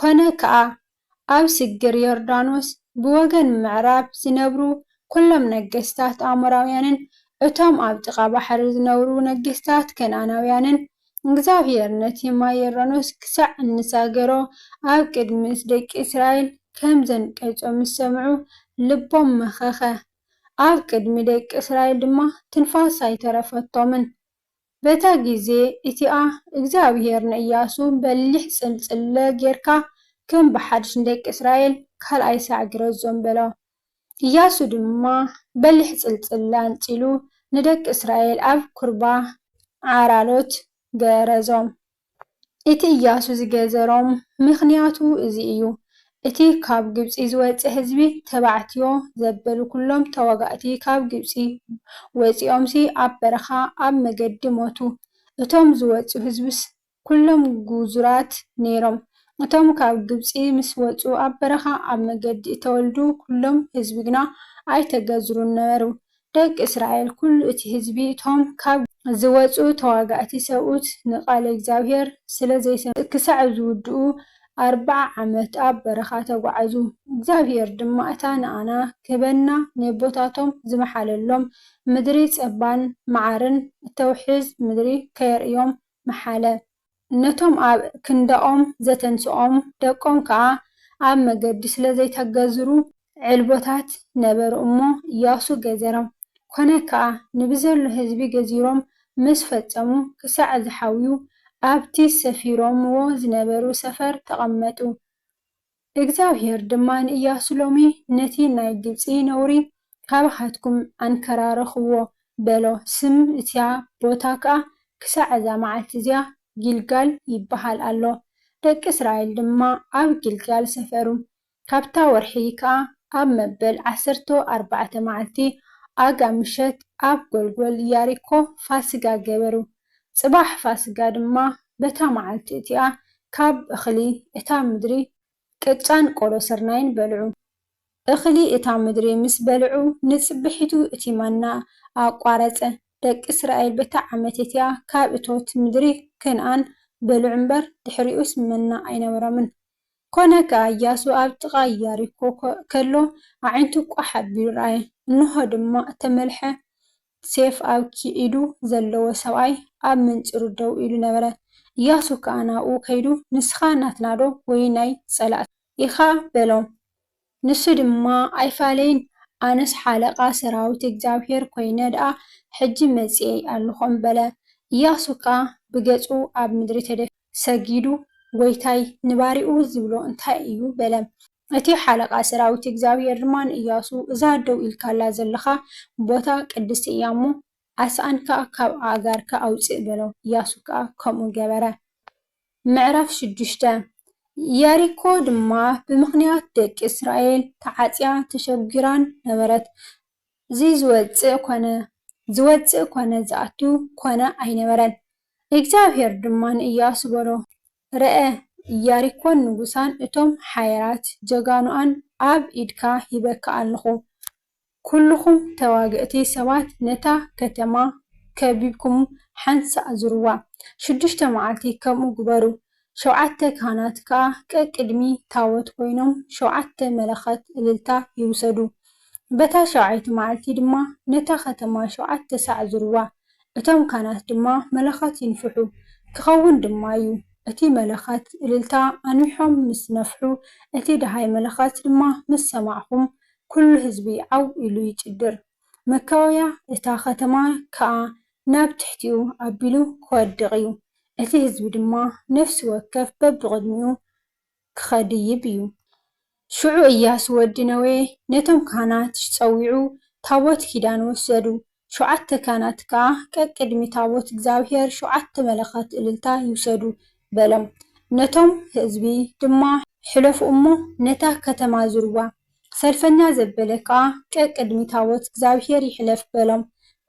ኰነ ከኣ፣ ኣብ ስግር ዮርዳኖስ ብወገን ምዕራብ ዚነብሩ ዅሎም ነገስታት ኣሞራውያንን እቶም ኣብ ጥቓ ባሕሪ ዚነብሩ ነገስታት ከነኣናውያንን፣ እግዚኣብሄር ነቲ ማይ ዮርዳኖስ ክሳዕ እንሳገሮ ኣብ ቅድሚ ደቂ እስራኤል ኸም ዘንቀጾ ምስ ሰምዑ፣ ልቦም መኸኸ፣ ኣብ ቅድሚ ደቂ እስራኤል ድማ ትንፋስ ኣይተረፈቶምን። በታ ጊዜ እቲኣ እግዚኣብሄር ንእያሱ በሊሕ ጽልጽለ ጌርካ ከም ብሓድሽ ንደቂ እስራኤል ካልኣይ ሳዕ ግረዞም በሎ። እያሱ ድማ በሊሕ ጽልጽለ ኣንጺሉ ንደቂ እስራኤል ኣብ ኩርባ ዓራሎት ገረዞም። እቲ እያሱ ዝገዘሮም ምኽንያቱ እዚ እዩ፣ እቲ ኻብ ግብጺ ዝወጸ ህዝቢ፣ ተባዕትዮ ዘበሉ ኵሎም ተዋጋእቲ ኻብ ግብጺ ወጺኦምሲ፣ ኣብ በረኻ ኣብ መገዲ ሞቱ። እቶም ዝወጹ ህዝብስ ኵሎም ግዙራት ነይሮም። እቶም ካብ ግብጺ ምስ ወጹ ኣብ በረኻ ኣብ መገዲ እተወልዱ ኵሎም ህዝቢ ግና ኣይተገዝሩን ነበሩ። ደቂ እስራኤል፣ ኵሉ እቲ ህዝቢ፣ እቶም ካብ። ዝወጹ ተዋጋእቲ ሰብኡት ንቓል እግዚኣብሄር ስለ ዘይሰምዑ። ክሳዕ ዝውድኡ ኣርብዓ ዓመት ኣብ በረኻ ተጓዓዙ። እግዚኣብሄር ድማ እታ ንኣና ክህበና ንየቦታቶም ዝመሓለሎም ምድሪ ጸባን መዓርን እተውሕዝ ምድሪ ከየርእዮም መሓለ። ነቶም ኣብ ክንዳኦም ዘተንስኦም ደቆም ከኣ ኣብ መገዲ ስለ ዘይተገዝሩ ዕልቦታት ነበሩ እሞ፣ ኢያሱ ገዘሮም። ኰነ ከኣ፣ ንብዘሎ ህዝቢ ገዚሮም ምስ ፈጸሙ፣ ክሳዕ ዝሓውዩ፣ ኣብቲ ሰፊሮምዎ ዝነበሩ ሰፈር ተቐመጡ። እግዚኣብሄር ድማ ንእያሱ ሎሚ ነቲ ናይ ግብጺ ነውሪ ኻባኻትኩም ኣንከራርኽዎ፣ በሎ። ስም እቲያ ቦታ ከኣ ክሳዕ እዛ መዓልቲ እዚኣ ጊልጋል ይብሃል ኣሎ። ደቂ እስራኤል ድማ ኣብ ጊልጋል ሰፈሩ። ካብታ ወርሒ ከኣ ኣብ መበል ዓሰርተ ኣርባዕተ መዓልቲ ኣጋ ምሸት ኣብ ጐልጐል ያሪኮ ፋስጋ ገበሩ። ጽባሕ ፋስጋ ድማ በታ መዓልቲ እቲኣ ካብ እኽሊ እታ ምድሪ ቅጫን ቆሎ ስርናይን በልዑ። እኽሊ እታ ምድሪ ምስ በልዑ ንጽብሒቱ እቲ ማና ኣቋረጸ። ደቂ እስራኤል በታ ዓመት እቲኣ ካብ እቶት ምድሪ ከነኣን በልዑ እምበር ድሕሪኡስ መና ኣይነበሮምን። ኰነ ከኣ እያሱ ኣብ ጥቓ ኢያሪኮ ከሎ ኣዒንቱ ቋሕ ኣቢሉ ረኣየ፣ እንሆ ድማ እተመልሐ ሴፍ ኣብ ኪኢዱ ዘለዎ ሰብኣይ ኣብ ምንጽሩ ደው ኢሉ ነበረ። እያሱ ከኣ ናብኡ ከይዱ፣ ንስኻ ናትናዶ ወይ ናይ ጸላእትና? ኢኻ? በሎም። ንሱ ድማ፣ ኣይፋለይን፣ ኣነስ ሓለቓ ሰራዊት እግዚኣብሄር ኰይነ ደኣ ሕጂ መጺኤ ኣሎኹ'ም በለ። እያሱ ከኣ ብገጹ ኣብ ምድሪ ተደፊኡ። ሰጊዱ፣ ጐይታይ ንባርያኡ ዚብሎ እንታይ እዩ? በለ። እቲ ሓለቓ ሰራዊት እግዚኣብሄር ድማ ንእያሱ፣ እዛ ደው ኢልካላ ዘለኻ ቦታ ቅድስቲ እያ እሞ፣ ኣስኣንካ ኻብ ኣእጋርካ ኣውጽእ በሎ። እያሱ ከኣ ከምኡ ገበረ። ምዕራፍ ሽዱሽተ ኢያሪኮ ድማ ብምኽንያት ደቂ እስራኤል ተዓጽያን ተሸጒራን ነበረት፣ ዚወጽእ ኰነ ዚወጽእ ኰነ ዚኣቱ ኰነ ኣይነበረን። እግዚኣብሄር ድማ ንእያሱ በሎ። ረኣ ኢያሪኮን ንጉሳን እቶም ሓያላት ጀጋኑኣን ኣብ ኢድካ ሂበካ ኣለኹ። ኵልኹም ተዋግእቲ ሰባት ነታ ከተማ ከቢብኩም ሓንሳእ ዙርዋ። ሽዱሽተ መዓልቲ ከምኡ ግበሩ። ሸውዓተ ካህናት ከኣ ቀቅድሚ ታቦት ኰይኖም ሸውዓተ መለኸት እልልታ ይውሰዱ። በታ ሻውዓይቲ መዓልቲ ድማ ነታ ኸተማ ሸውዓተ ሳዕ ዙርዋ። እቶም ካህናት ድማ መለኸት ይንፍሑ። ኪኸውን ድማ እዩ፣ እቲ መለኸት እልልታ ኣንዊሖም ምስ ነፍሑ፣ እቲ ደሃይ መለኸት ድማ ምስ ሰማዕኹም፣ ኵሉ ህዝቢ ዓው ኢሉ ይጭድር፣ መካወብያ እታ ኸተማ ከኣ ናብ ትሕቲኡ ኣቢሉ ኪወድቕ እዩ፣ እቲ ህዝቢ ድማ ነፍሲ ወከፍ በብቕድሚኡ ኪኸድይብ እዩ። ሽዑ እያሱ ወዲ ነዌ ነቶም ካህናት ጸዊዑ፣ ታቦት ኪዳን ወሰዱ፣ ሸውዓተ ካህናት ከኣ ቀቅድሚ ታቦት እግዚኣብሄር ሸውዓተ መለኸት እልልታ ይውሰዱ፣ በሎም። ነቶም ህዝቢ ድማ ሕለፉ እሞ ነታ ከተማ ዙርዋ። ሰልፈኛ ዘበለ ከኣ ቀቅድሚ ታቦት እግዚኣብሄር ይሕለፍ በሎም።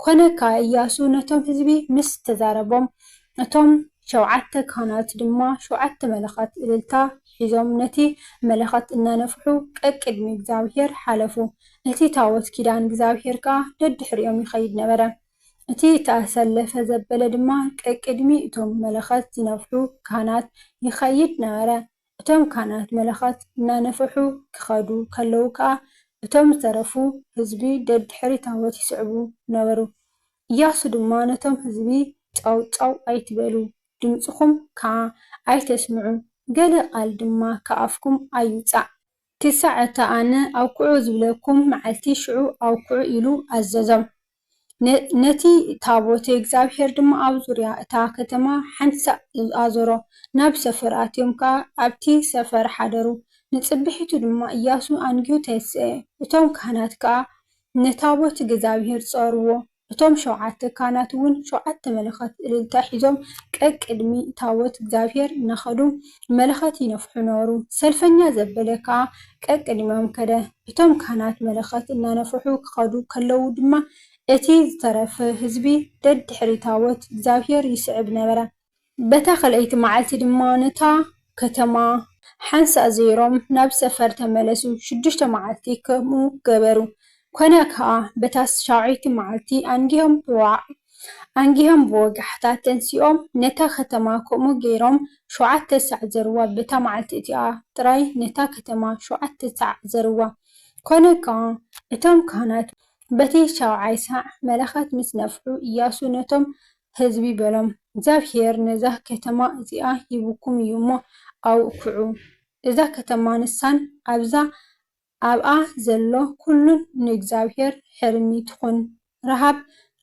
ኰነ ከኣ እያሱ ነቶም ህዝቢ ምስ ተዛረቦም፣ እቶም ሸውዓተ ካህናት ድማ ሸውዓተ መለኸት እልልታ ሒዞም ነቲ መለኸት እናነፍሑ ቀቅድሚ እግዚኣብሄር ሓለፉ፣ እቲ ታቦት ኪዳን እግዚኣብሄር ከኣ ደድሕሪኦም ይኸይድ ነበረ። እቲ እተኣሰለፈ ዘበለ ድማ ቀቅድሚ እቶም መለኸት ዝነፍሑ ካህናት ይኸይድ ነበረ። እቶም ካህናት መለኸት እናነፍሑ ኪኸዱ ከለዉ ከኣ፣ እቶም ዝተረፉ ህዝቢ ደድሕሪ ታቦት ይስዕቡ ነበሩ። እያሱ ድማ ነቶም ህዝቢ፣ ጫው ጫው ኣይትበሉ፣ ድምጽኹም ከኣ ኣይተስምዑ፣ ገለ ቓል ድማ ካብ ኣፍኩም ኣይውጻእ። ክሳዕ እታ ኣነ ኣብኵዑ ዝብለኩም መዓልቲ ሽዑ ኣብኵዑ ኢሉ ኣዘዞም። ነቲ ታቦተ እግዚኣብሄር ድማ ኣብ ዙርያ እታ ከተማ ሓንቲ ሳዕ ኣዞሮ፣ ናብ ሰፈር ኣትዮም ከኣ ኣብቲ ሰፈር ሓደሩ። ንጽብሒቱ ድማ እያሱ ኣንጊሁ ተንስኤ፣ እቶም ካህናት ከኣ ንታቦት እግዚኣብሄር ጾርዎ። እቶም ሸውዓተ ካህናትውን ሸውዓተ መለኸት እልልታ ሒዞም ቀቅድሚ ታቦት እግዚኣብሄር እናኸዱ መለኸት ይነፍሑ ነበሩ። ሰልፈኛ ዘበለ ከኣ ቀቅድሚኦም ከደ። እቶም ካህናት መለኸት እናነፍሑ ክኸዱ ከለዉ ድማ እቲ ዝተረፈ ህዝቢ ደድሕሪ ታቦት እግዚኣብሄር ይስዕብ ነበረ። በታ ኸልኣይቲ መዓልቲ ድማ ነታ ኸተማ ሓንሳእ ዜሮም ናብ ሰፈር ተመለሱ፣ ሽዱሽተ መዓልቲ ከምኡ ገበሩ። ኰነ ኸኣ፣ በታ ሻውዐይቲ መዓልቲ ኣንጊሆም ብዋዕዋዕ ኣንጊሆም ብወጋሕታ ተንሲኦም ነታ ኸተማ ከምኡ ገይሮም ሸውዓተ ሳዕ ዘርዋ፣ በታ መዓልቲ እቲኣ ጥራይ ነታ ኸተማ ሸውዓተ ሳዕ ዘርዋ። ኰነ ኸኣ፣ እቶም ካህናት በቲ ሻውዓይ ሳዕ መለኸት ምስ ነፍሑ፣ እያሱ ነቶም ህዝቢ በሎም፣ እግዚኣብሄር ነዛ ኸተማ እዚኣ ሂቡኩም እዩ እሞ፣ ኣውክዑ። እዛ ኸተማ ንሳን ኣብዛ ኣብኣ ዘሎ ዅሉን ንእግዚኣብሄር ሕርሚ ትኹን። ረሃብ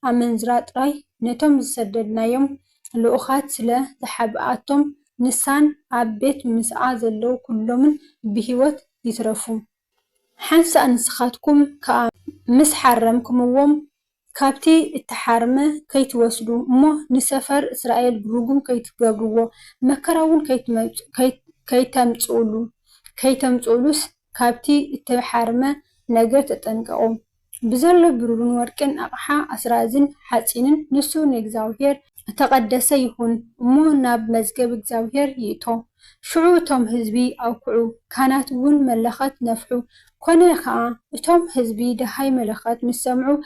ኣመንዝራ ጥራይ ነቶም ዝሰደድናዮም ልኡኻት ስለ ዝሓብኣቶም፣ ንሳን ኣብ ቤት ምስኣ ዘለዉ ዅሎምን ብህይወት ይትረፉ። ሓንሳእ ንስኻትኩም ከኣ ምስ ሓረምክምዎም፣ ካብቲ እተሓርመ ኸይትወስዱ፣ እሞ ንሰፈር እስራኤል ርጉም ከይትገብርዎ፣ መከራውን ከይተምጽኡሉ፣ ከይተምጽኡሉስ ካብቲ እተሓርመ ነገር ተጠንቀቑ። ብዘሎ ብሩርን ወርቅን ኣቕሓ ኣስራዝን ሓጺንን ንሱ ንእግዚኣብሄር እተቐደሰ ይኹን እሞ ናብ መዝገብ እግዚኣብሄር ይእቶ። ሽዑ እቶም ህዝቢ ኣውክዑ፣ ካህናትውን መለኸት ነፍሑ። ኰነ ኸኣ፣ እቶም ህዝቢ ደሃይ መለኸት ምስ ሰምዑ፣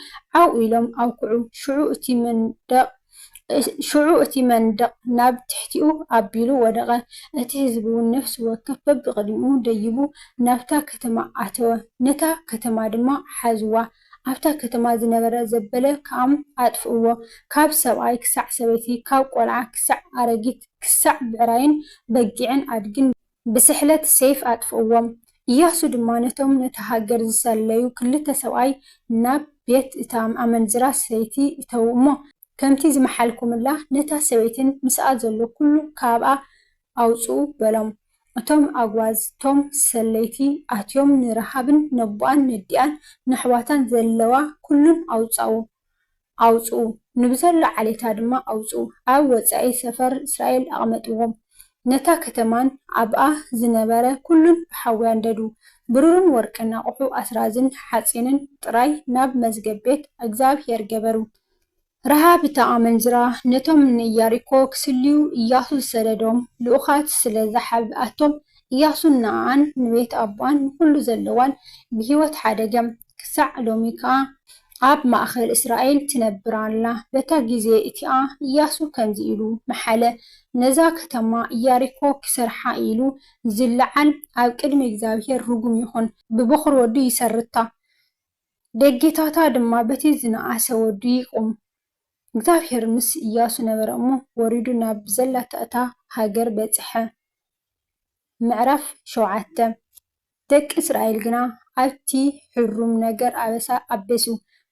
ዓው ኢሎም ኣውክዑ፣ ሽዑ እቲ መንደቕ ሽዑ እቲ መንደቕ ናብ ትሕቲኡ ኣቢሉ ወደቐ፣ እቲ ህዝቢውን ነፍሲ ወከፍ በብቕድሚኡ ደይቡ ናብታ ከተማ ኣተወ፣ ነታ ከተማ ድማ ሓዝዋ፣ ኣብታ ከተማ ዝነበረ ዘበለ ከኣ ኣጥፍእዎ፣ ካብ ሰብኣይ ክሳዕ ሰበይቲ፣ ካብ ቈልዓ ክሳዕ ኣረጊት፣ ክሳዕ ብዕራይን በጊዕን ኣድግን። ብስሕለት ሴፍ ኣጥፍእዎም። እያሱ ድማ ነቶም ነታ ሃገር ዝሰለዩ ክልተ ሰብኣይ ናብ ቤት እታ ኣመንዝራ ሰበይቲ እተዉ እሞ፣ ከምቲ ዝመሓልኩምላ ነታ ሰበይትን ምስኣ ዘሎ ኵሉ ካብኣ ኣውጽኡ በሎም። እቶም ኣጕባዝ እቶም ሰለይቲ ኣትዮም ንረሃብን ነቦኣን ነዲኣን ነሕዋታን ዘለዋ ኵሉን ኣውጻኡ። ኣውጽኡ፣ ንብዘሎ ዓሌታ ድማ ኣውጽኡ፣ ኣብ ወጻኢ ሰፈር እስራኤል ኣቕመጥዎም። ነታ ከተማን ኣብኣ ዝነበረ ኵሉን ብሓዊ ኣንደዱ። ብሩርን ወርቅን ኣቝሑ ኣስራዝን ሓጺንን ጥራይ ናብ መዝገብ ቤት እግዚኣብሄር ገበሩ። ረሃብ እታ ኣመንዝራ ነቶም ንኢያሪኮ ኺስልዩ እያሱ ዝሰደዶም ልኡኻት ስለ ዝሓብኣቶም፣ እያሱን ንኣኣን ንቤት ኣቦኣን ንዅሉ ዘለዋን ብህይወት ሓደገ። ክሳዕ ሎሚ ከኣ ኣብ ማእከል እስራኤል ትነብር ኣላ። በታ ጊዜ እቲኣ እያሱ ከምዚ ኢሉ መሓለ፣ ነዛ ከተማ እያሪኮ ኪሰርሓ ኢሉ ዚለዓል፣ ኣብ ቅድሚ እግዚኣብሄር ርጉም ይኹን። ብበዅሪ ወዱ ይሰርታ፣ ደጌታታ ድማ በቲ ዝነኣሰ ወዱ ይቑም። እግዚኣብሄር ምስ እያሱ ነበረ እሞ፣ ወሪዱ ናብ ዘላታ እታ ሃገር በጽሐ። ምዕራፍ ሸውዓተ። ደቂ እስራኤል ግና ኣብቲ ሕሩም ነገር ኣበሳ ኣበሱ፣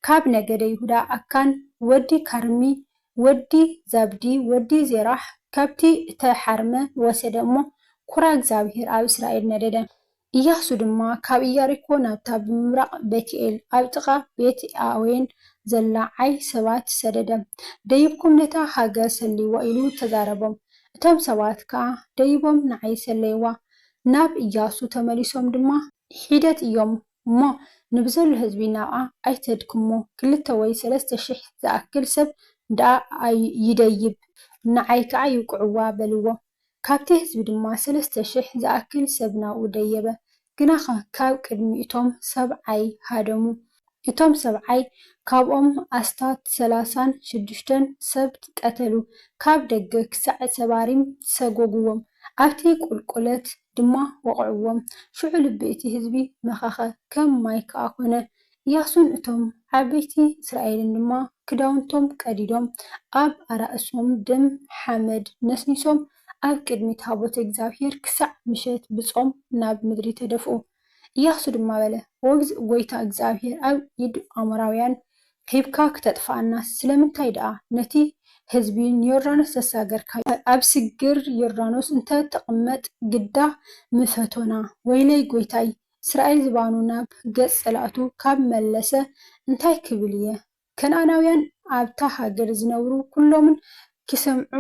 ካብ ነገደ ይሁዳ ኣካን ወዲ ካርሚ ወዲ ዛብዲ ወዲ ዜራሕ ካብቲ እተሓርመ ወሰደ እሞ፣ ኵራ እግዚኣብሄር ኣብ እስራኤል ነደደ። እያሱ ድማ ካብ እያሪኮ ናብታ ብምብራቕ ቤትኤል ኣብ ጥቓ ቤትኣዌን ዘላ ዓይ ሰባት ሰደደ፣ ደይብኩም ነታ ሃገር ሰልይዋ ኢሉ ተዛረቦም፣ እቶም ሰባት ከኣ ደይቦም ንዓይ ሰለይዋ፣ ናብ እያሱ ተመሊሶም ድማ ሒደት እዮም እሞ ንብዘሎ ህዝቢ ናብኣ ኣይተድክሞ ክልተ ወይ ሰለስተ ሽሕ ዝኣክል ሰብ ደኣ ይደይብ ንዓይ ከኣ ይውቅዕዋ በልዎ ካብቲ ህዝቢ ድማ ሰለስተ ሽሕ ዝኣክል ሰብ ናብኡ ደየበ ግናኸ ካብ ቅድሚ እቶም ሰብዓይ ሃደሙ እቶም ሰብዓይ ካብኦም ኣስታት ሰላሳን ሽዱሽተን ሰብ ቀተሉ፣ ካብ ደገ ክሳዕ ሰባሪም ሰጐጕዎም፣ ኣብቲ ቍልቍለት ድማ ወቕዕዎም። ሽዑ ልቢ እቲ ህዝቢ መኸኸ፣ ከም ማይ ከኣ ኰነ። እያሱን እቶም ዓበይቲ እስራኤልን ድማ ክዳውንቶም ቀዲዶም፣ ኣብ ኣራእሶም ደም ሓመድ ነስኒሶም፣ ኣብ ቅድሚ ታቦት እግዚኣብሄር ክሳዕ ምሸት ብጾም ናብ ምድሪ ተደፍኡ። እያሱ ድማ በለ፣ ወግዝ ጐይታ እግዚኣብሄር ኣብ ኢድ ኣሞራውያን ሂብካ ክተጥፍኣናስ፣ ስለምንታይ ደኣ ነቲ ህዝቢ ንዮርዳኖስ ዘሳገርካዮ? ኣብ ስግር ዮርዳኖስ እንተ ትቕመጥ ግዳ ምፈቶና። ወይለይ ጐይታይ፣ እስራኤል ዝባኑ ናብ ገጽ ጸላእቱ ካብ መለሰ እንታይ ክብል እየ? ከነኣናውያን ኣብታ ሃገር ዝነብሩ ኵሎምን ኪሰምዑ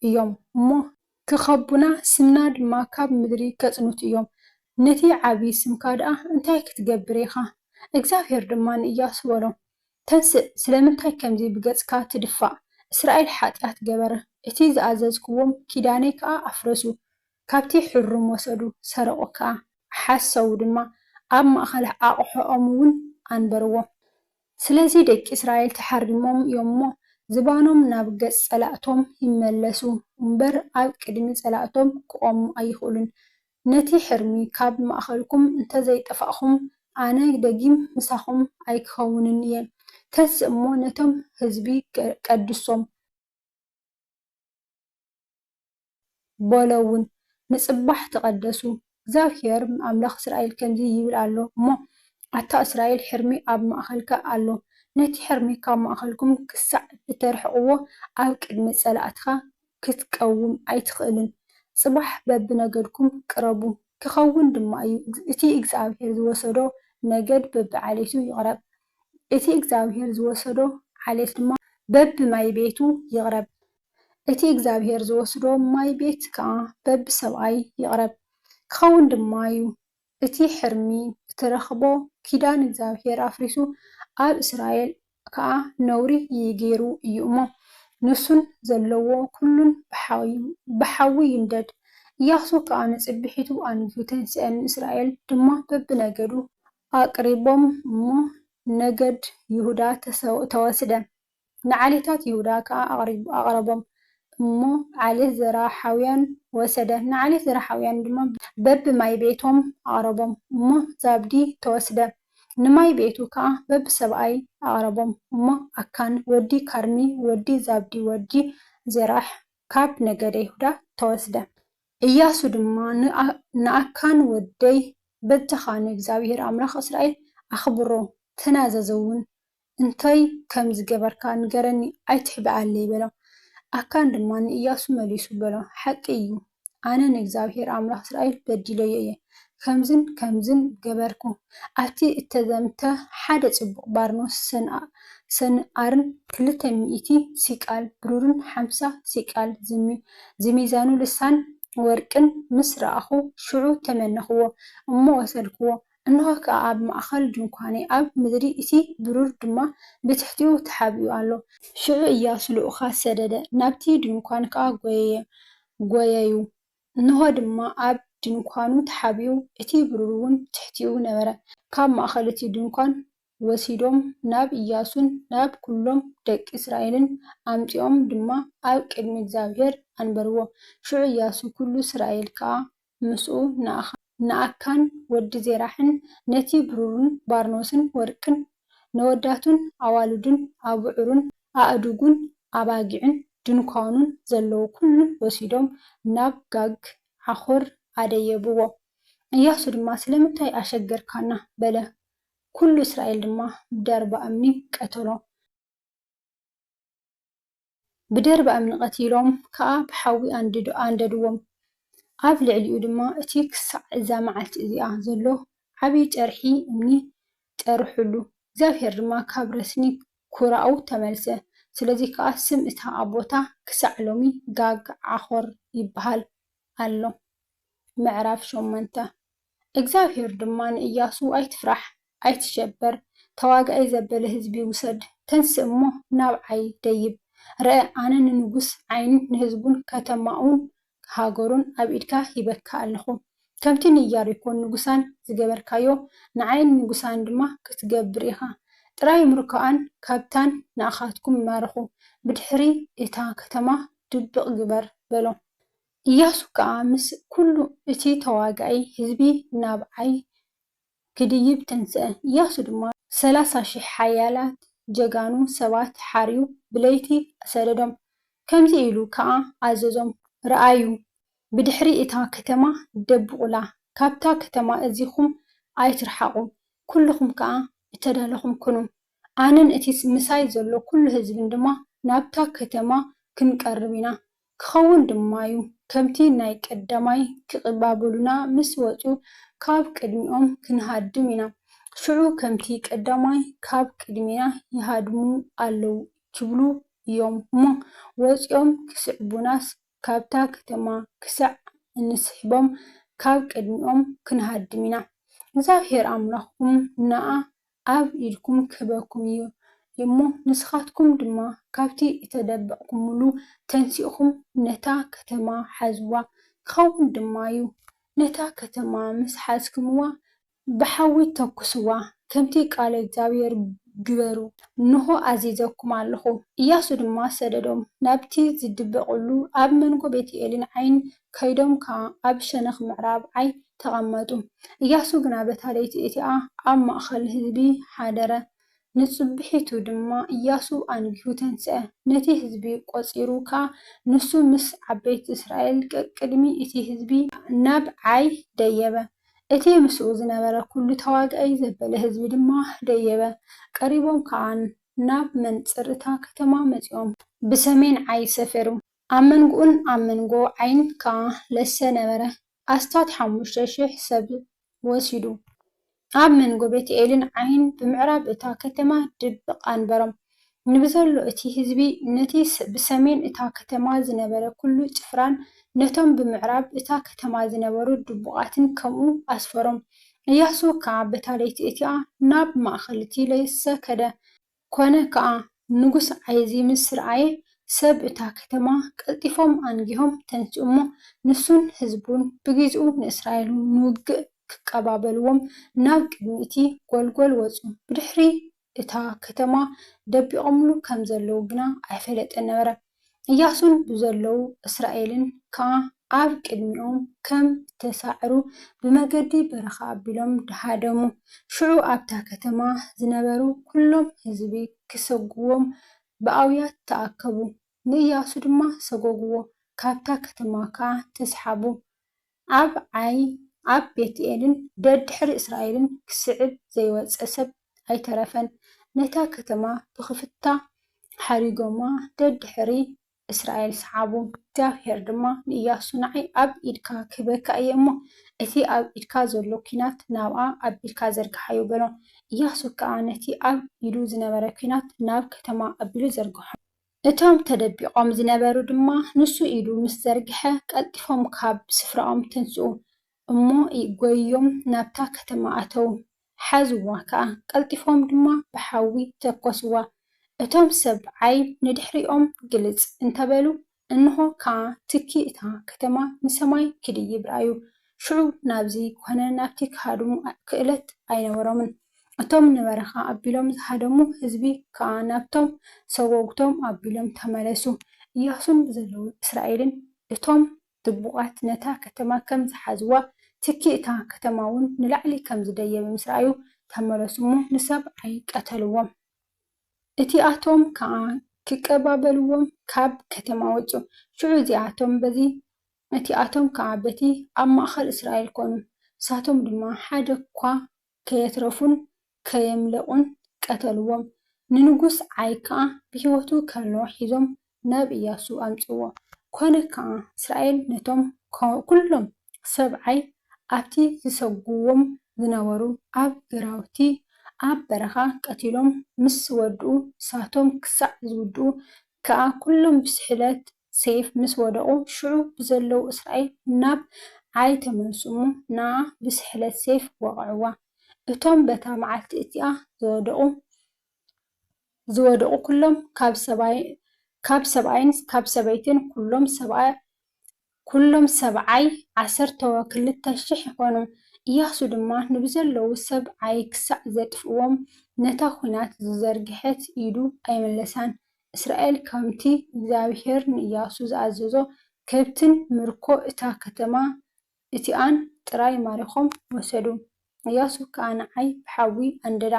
እዮም እሞ፣ ኪኸቡና፣ ስምና ድማ ካብ ምድሪ ኬጽንቱ እዮም፣ ነቲ ዓብዪ ስምካ ደኣ እንታይ ክትገብር ኢኻ? እግዚኣብሄር ድማ ንእያሱ በሎ፣ ተንስእ፣ ስለምንታይ ከምዚ ብገጽካ ትድፋእ? እስራኤል ሓጢኣት ገበረ፣ እቲ ዝኣዘዝክዎም ኪዳነይ ከኣ ኣፍረሱ፣ ካብቲ ሕሩም ወሰዱ፣ ሰረቑ ከኣ፣ ሓሰዉ ድማ፣ ኣብ ማእከል ኣቕሑኦምውን ኣንበርዎ። ስለዚ ደቂ እስራኤል ተሓሪሞም እዮም'ሞ፣ ዝባኖም ናብ ገጽ ጸላእቶም ይመለሱ እምበር፣ ኣብ ቅድሚ ጸላእቶም ክቖሙ ኣይኽእሉን። ነቲ ሕርሚ ካብ ማእከልኩም እንተ ዘይጠፋእኩም፣ ኣነ ደጊም ምሳኹም ኣይክኸውንን እየ። ተንስእ እሞ፣ ነቶም ህዝቢ ቀድሶም። በሎውን፣ ንጽባሕ ተቐደሱ፣ እግዚኣብሄር ኣምላኽ እስራኤል ከምዚ ይብል ኣሎ እሞ፣ ኣታ እስራኤል፣ ሕርሚ ኣብ ማእከልካ ኣሎ፣ ነቲ ሕርሚ ኻብ ማእከልኩም ክሳዕ እተርሕቕዎ፣ ኣብ ቅድሚ ጸላእትኻ ኽትቀውም ኣይትኽእልን። ጽባሕ በብነገድኩም ቅረቡ፣ ኪኸውን ድማ እዩ፣ እቲ እግዚኣብሄር ዝወሰዶ ነገድ በብዓሌቱ ይቕረብ፣ እቲ እግዚኣብሄር ዝወሰዶ ዓሌት ድማ በብማይቤቱ ይቕረብ። እቲ እግዚኣብሄር ዝወስዶ ማይ ቤት ከኣ በቢ ሰብኣይ ይቕረብ ክኸውን ድማ እዩ። እቲ ሕርሚ እትረኽቦ ኪዳን እግዚኣብሄር ኣፍሪሱ ኣብ እስራኤል ከኣ ነውሪ ይይገይሩ እዩ እሞ፣ ንሱን ዘለዎ ኩሉን ብሓዊ ይንደድ። እያሱ ከኣ ንጽብሒቱ ኣንጊሁ ተንስኤ ንእስራኤል ድማ በብነገዱ ኣቕሪቦም እሞ ነገድ ይሁዳ ተወስደ። ንዓሌታት ይሁዳ ከኣ ኣቕሪቡ ኣቕረቦም እሞ ዓሌት ዘርኣሓውያን ወሰደ። ንዓሌት ዘርኣሓውያን ድማ በቢ ማይ ቤቶም ኣቕረቦም እሞ ዛብዲ ተወስደ። ንማይ ቤቱ ከኣ በቢ ሰብኣይ ኣቕረቦም እሞ ኣካን ወዲ ካርሚ ወዲ ዛብዲ ወዲ ዜራሕ ካብ ነገደ ይሁዳ ተወስደ። እያሱ ድማ ንኣካን ወደይ በጃኻ ንእግዚኣብሄር ኣምላኽ እስራኤል ኣኽብሮ ተናዘዝውን እንታይ ከም ዝገበርካ ንገረኒ፣ ኣይትሕብኣለይ በሎ። ኣካን ድማ ንእያሱ መሊሱ በሎ፣ ሓቂ እዩ፣ ኣነ ንእግዚኣብሄር ኣምላኽ እስራኤል በዲለዮ እየ፣ ከምዝን ከምዝን ገበርኩ፣ ኣብቲ እተዘምተ ሓደ ጽቡቕ ባርኖስ ሰንኣርን ክልተ ሚእቲ ሲቃል ብሩርን ሓምሳ ሲቃል ዝሚዛኑ ልሳን ወርቅን ምስ ረኣኹ፣ ሽዑ ተመነኽዎ እሞ ወሰድክዎ፣ እንሆ ከኣ ኣብ ማእከል ድንኳነይ ኣብ ምድሪ እቲ ብሩር ድማ ብትሕቲኡ ተሓቢኡ ኣሎ። ሽዑ እያሱ ልኡኻት ሰደደ፣ ናብቲ ድንኳን ከኣ ጐየየ፣ ጐየዩ፣ እንሆ ድማ ኣብ ድንኳኑ ተሓቢኡ፣ እቲ ብሩርውን ብትሕቲኡ ነበረ። ካብ ማእከል እቲ ድንኳን ወሲዶም ናብ እያሱን ናብ ኵሎም ደቂ እስራኤልን ኣምጺኦም ድማ ኣብ ቅድሚ እግዚኣብሄር ኣንበርዎ። ሽዑ እያሱ ኵሉ እስራኤል ከኣ ምስኡ ንኣኻ፣ ንኣካን ወዲ ዜራሕን ነቲ ብሩርን ባርኖስን ወርቅን ነወዳቱን ኣዋልዱን ኣብዑሩን ኣእዱጉን ኣባጊዑን ድንኳኑን ዘለዎ ኵሉ ወሲዶም ናብ ጋግ ዓኾር ኣደየብዎ። እያሱ ድማ ስለምንታይ ኣሸገርካና? በለ። ኵሉ እስራኤል ድማ ብደርባ እምኒ ቀተሎም። ብደርቢ እምኒ ቐቲሎም ከኣ ብሓዊ ኣንደድዎም። ኣብ ልዕሊኡ ድማ እቲ ኽሳዕ እዛ መዓልቲ እዚኣ ዘሎ ዓብዪ ጨርሒ እምኒ ጨርሑሉ። እግዚኣብሄር ድማ ካብ ረስኒ ኵራኡ ተመልሰ። ስለዚ ኸኣ ስም እታ ኣብ ቦታ ኽሳዕ ሎሚ ጋግ-ዓኾር ይብሃል ኣሎ። ምዕራፍ ሸሞንተ። እግዚኣብሄር ድማ ንእያሱ፣ ኣይትፍራሕ፣ ኣይትሸበር፣ ተዋጋኢ ዘበለ ህዝቢ ውሰድ፣ ተንስእ እሞ ናብዓይ ደይብ፣ ርኣ፣ ኣነ ንንጉስ ዓይን ንህዝቡን ከተማኡን ሃገሩን ኣብ ኢድካ ሂበካ ኣለኹ፣ ከምቲ ንኢያሪኮን ንጉሳን ዝገበርካዮ፣ ንዓይን ንንጉሳን ድማ ክትገብር ኢኻ፣ ጥራይ ምርኮኣን ካብታን ንኣኻትኩም ማርኹ፣ ብድሕሪ እታ ከተማ ድብቕ ግበር፣ በሎ። እያሱ ከኣ ምስ ኵሉ እቲ ተዋጋኢ ህዝቢ ናብ ዓይ ኪድይብ ተንስአ። እያሱ ድማ ሰላሳ ሽሕ ሓያላት ጀጋኑ ሰባት ሓርዩ ብለይቲ ሰደዶም፣ ከምዚ ኢሉ ኸኣ ኣዘዞም፣ ርኣዩ፣ ብድሕሪ እታ ኸተማ ደብቑላ፣ ካብታ ኸተማ እዚኹም ኣይትርሓቑ፣ ኵልኹም ከኣ እተዳለኹም ኩኑ፣ ኣነን እቲ ምሳይ ዘሎ ኵሉ ህዝብን ድማ ናብታ ኸተማ ኽንቀርብ ኢና፣ ክኸውን ድማዩ። ከምቲ ናይ ቀዳማይ ክቕባበሉና ምስ ወጹ ካብ ቅድሚኦም ክንሃድም ኢና። ሽዑ ከምቲ ቀዳማይ ካብ ቅድሜና ይሃድሙ ኣለዉ ክብሉ ኢዮም'ሞ ወጺኦም ክስዕቡናስ ካብታ ከተማ ክሳዕ እንስሕቦም ካብ ቅድሚኦም ክንሃድም ኢና። እግዚኣብሄር ኣምላኽኩም ንኣ ኣብ ኢድኩም ክህበኩም እዩ እሞ ንስኻትኩም ድማ ካብቲ እተደበቕኩምሉ ተንሲእኹም ነታ ከተማ ሓዝዋ። ክኸውን ድማ እዩ፣ ነታ ከተማ ምስ ሓዝክምዋ፣ ብሓዊ ተኵስዋ፣ ከምቲ ቃለ እግዚኣብሄር ግበሩ፣ እንሆ፣ ኣዚዘኩም ኣለኹ። እያሱ ድማ ሰደዶም፣ ናብቲ ዝድበቕሉ ኣብ መንጎ ቤት-ኤልን ዓይን ከይዶም ከኣ ኣብ ሸነኽ ምዕራብ ዓይ ተቐመጡ። እያሱ ግና በታ ለይቲ እቲኣ ኣብ ማእከል ህዝቢ ሓደረ። ንጽብሒቱ ድማ እያሱ ኣንጊሁ ተንስኣ፣ ነቲ ህዝቢ ቈጺሩ ከኣ ንሱ ምስ ዓበይቲ እስራኤል ቀቅድሚ እቲ ህዝቢ ናብ ዓይ ደየበ። እቲ ምስኡ ዝነበረ ኵሉ ተዋጋኣይ ዘበለ ህዝቢ ድማ ደየበ፣ ቀሪቦም ከኣ ናብ መንጽር እታ ከተማ መጺኦም። ብሰሜን ዓይ ሰፈሩ። ኣብ መንጎኡን ኣብ መንጎ ዓይን ከኣ ለሰ ነበረ፣ ኣስታት ሓሙሽተ ሽሕ ሰብ ወሲዱ። ኣብ መንጎ ቤትኤልን ዓይን ብምዕራብ እታ ከተማ ድብቕ ኣንበሮም። ንብዘሎ እቲ ህዝቢ፣ ነቲ ብሰሜን እታ ከተማ ዝነበረ ኵሉ ጭፍራን ነቶም ብምዕራብ እታ ከተማ ዝነበሩ ድቡቓትን ከምኡ ኣስፈሮም። እያሱ ከኣ በታ ለይቲ እቲኣ ናብ ማእከል እቲ ለሰ ከደ። ኰነ ከኣ፣ ንጉስ ኣይእዚ ምስ ረኣየ፣ ሰብ እታ ከተማ ቀልጢፎም ኣንጊሆም ተንስኡ እሞ፣ ንሱን ህዝቡን ብጊዚኡ ንእስራኤል ንውግእ ኪቀባበልዎም ናብ ቅድሚ እቲ ጐልጐል ወጹ፣ ብድሕሪ እታ ከተማ ደቢቖምሉ ከም ዘለዉ ግና ኣይፈለጠን ነበረ። እያሱን ብዘለዉ እስራኤልን ከኣ ኣብ ቅድሚኦም ከም እተሳዕሩ ብመገዲ በረኻ ኣቢሎም ደሃደሙ። ሽዑ ኣብታ ከተማ ዝነበሩ ኵሎም ህዝቢ ኺሰጕግዎም ብኣውያት ተኣከቡ፣ ንእያሱ ድማ ሰጐግዎ፣ ካብታ ከተማ ኸኣ ተስሓቡ። ኣብ ዓይ፣ ኣብ ቤትኤልን ደድሕሪ እስራኤልን ክስዕብ ዘይወጸ ሰብ ኣይተረፈን። ነታ ከተማ ብኽፍታ ሓሪጎማ ደድሕሪ እስራኤል ሰዓቡ። እግዚኣብሄር ድማ ንእያሱ፣ ንዓይ ኣብ ኢድካ ክህበካ እየ እሞ፣ እቲ ኣብ ኢድካ ዘሎ ኲናት ናብኣ ኣቢልካ ዘርግሓዮ በሎ። እያሱ ከኣ ነቲ ኣብ ኢዱ ዝነበረ ኲናት ናብ ከተማ ኣቢሉ ዘርግሖ። እቶም ተደቢቖም ዝነበሩ ድማ ንሱ ኢዱ ምስ ዘርግሐ ቀልጢፎም ካብ ስፍራኦም ተንስኡ እሞ ጎይዮም ናብታ ከተማ ኣተዉ። ሓዝዋ ከኣ፣ ቀልጢፎም ድማ ብሓዊ ተኰስዋ። እቶም ሰብዓይ ንድሕሪኦም ግልጽ እንተ በሉ፣ እንሆ ከኣ ትኪ እታ ከተማ ንሰማይ ክድይብ ረኣዩ፣ ሽዑ ናብዚ ኮነ ናብቲ ክሃድሙ ክእለት ኣይነበሮምን። እቶም ንበረኻ ኣቢሎም ዝሃደሙ ህዝቢ ከኣ ናብቶም ሰጐጕቶም ኣቢሎም ተመለሱ። እያሱን ዘለዉ እስራኤልን እቶም ድቡቓት ነታ ከተማ ከም ዝሓዝዋ፣ ትኪ እታ ከተማውን ንላዕሊ ከም ዝደየበ ምስ ረኣዩ፣ ተመለሱ እሞ ንሰብዓይ ቀተልዎም። እቲኣቶም ከኣ ክቀባበልዎም ካብ ከተማ ወጹ። ሽዑ እዚኣቶም በዚ ነቲኣቶም ከኣ በቲ ኣብ ማእከል እስራኤል ኰኑ፣ ንሳቶም ድማ ሓደ እኳ ከየትረፉን ከየምለቑን ቀተልዎም። ንንጉስ ዓይ ከኣ ብህይወቱ ከሎ ሒዞም ናብ እያሱ ኣምጽእዎ። ኰነ ከኣ፣ እስራኤል ነቶም ኵሎም ሰብ ዓይ ኣብቲ ዚሰጕግዎም ዝነበሩ ኣብ ግራውቲ ኣብ በረኻ ቀቲሎም ምስ ወድኡ፣ ንሳቶም ክሳዕ ዚውድኡ ከኣ ኵሎም ብስሕለት ሴፍ ምስ ወደቑ፣ ሽዑ ብዘለዉ እስራኤል ናብ ዓይ ተመልሱ እሞ፣ ንኣ ብስሕለት ሴፍ ወቕዕዋ። እቶም በታ መዓልቲ እቲኣ ዝወደቑ ዝወደቑ ኵሎም፣ ካብ ሰብኣይ ካብ ሰብኣይን ካብ ሰበይትን፣ ኵሎም ሰብኣ ኵሎም ሰብዓይ ዓሰርተው ክልተ ሽሕ ይዀኑ። እያሱ ድማ ንብዘለዉ ሰብ ዓይ ክሳዕ ዜጥፍእዎም፣ ነታ ዅናት ዝዘርግሐት ኢዱ ኣይመለሳን። እስራኤል ከምቲ እግዚኣብሄር ንእያሱ ዝኣዘዞ፣ ከብትን ምርኮ እታ ከተማ እቲኣን ጥራይ ማሪኾም ወሰዱ። እያሱ ከኣ ንዓይ ብሓዊ ኣንደዳ፣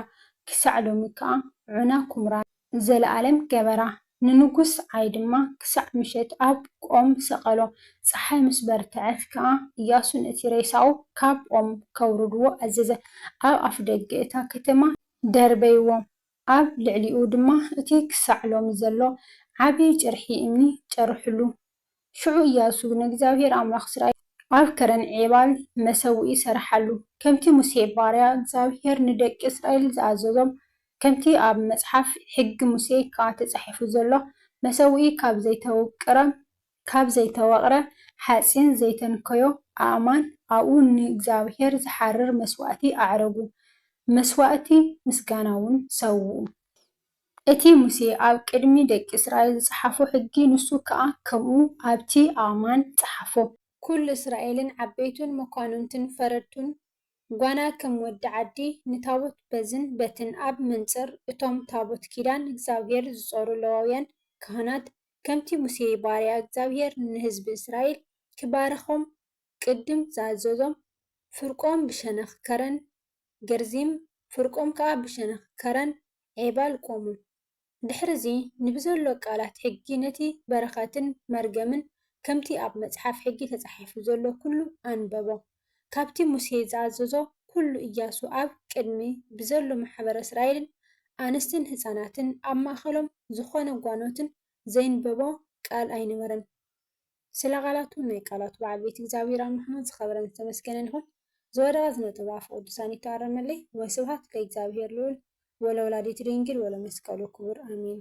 ክሳዕ ሎሚ ከኣ ዑና ኵምራ ንዘለኣለም ገበራ። ንንጉስ ዓይ ድማ ክሳዕ ምሸት ኣብ ኦም ሰቐሎ። ጸሓይ ምስ በርትዐት ከኣ እያሱ ነቲ ሬሳኡ ካብ ኦም ከውርድዎ ኣዘዘ፣ ኣብ ኣፍደገ እታ ከተማ ደርበይዎ። ኣብ ልዕሊኡ ድማ እቲ ኽሳዕ ሎሚ ዘሎ ዓብዪ ጭርሒ እምኒ ጨርሑሉ። ሽዑ እያሱ ንእግዚኣብሄር ኣምላኽ እስራኤል። ኣብ ከረን-ዔባል መሰውኢ ሰርሓሉ፣ ከምቲ ሙሴ ባርያ እግዚኣብሄር ንደቂ እስራኤል ዝኣዘዞም፣ ከምቲ ኣብ መጽሓፍ ሕጊ ሙሴ ከኣ ተጻሒፉ ዘሎ፣ መሰውኢ ካብ ዘይተውቅረ ካብ ዘይተወቕረ ሓጺን ዘይተንከዮ ኣእማን ኣብኡ ንእግዚኣብሄር ዝሓርር መስዋእቲ ኣዕረጉ፣ መስዋእቲ ምስጋናውን ሰውኡ። እቲ ሙሴ ኣብ ቅድሚ ደቂ እስራኤል ዝጸሓፎ ሕጊ ንሱ ከኣ ከምኡ ኣብቲ ኣእማን ጸሓፎ። ኵሉ እስራኤልን ዓበይቱን መኳንንቱን ፈረድቱን ጓና ከም ወዲ ዓዲ ንታቦት በዝን በትን ኣብ መንጽር እቶም ታቦት ኪዳን እግዚኣብሄር ዝጾሩ ለዋውያን ካህናት ከምቲ ሙሴ ባርያ እግዚኣብሄር ንህዝቢ እስራኤል ኪባርኾም ቅድም ዝኣዘዞም፣ ፍርቆም ብሸነኽ ከረን ገርዚም፣ ፍርቆም ከኣ ብሸነኽ ከረን ዔባል ቈሙ። ድሕርዚ፣ ንብዘሎ ቃላት ሕጊ ነቲ በረኸትን መርገምን ከምቲ ኣብ መጽሓፍ ሕጊ ተጻሒፉ ዘሎ ኵሉ ኣንበቦ። ካብቲ ሙሴ ዝኣዘዞ ኵሉ እያሱ ኣብ ቅድሚ ብዘሎ ማሕበረ እስራኤልን ኣንስትን ህጻናትን ኣብ ማእከሎም ዝኾነ ጓኖትን ዘይንበቦ ቃል ኣይነበረን ስለ ቃላቱ ናይ ቃላቱ በዓል ቤት እግዚኣብሔር ኣምላኽና ዝኸበረን ዝተመስገነን ይኹን ዝወደቐ ዝነጠበ ኣፈ ቅዱሳን ይተኣረመለይ ወስብሃት ለእግዚኣብሔር ልዑል ወለወላዲቱ ድንግል ወለመስቀሉ ክቡር ኣሜን።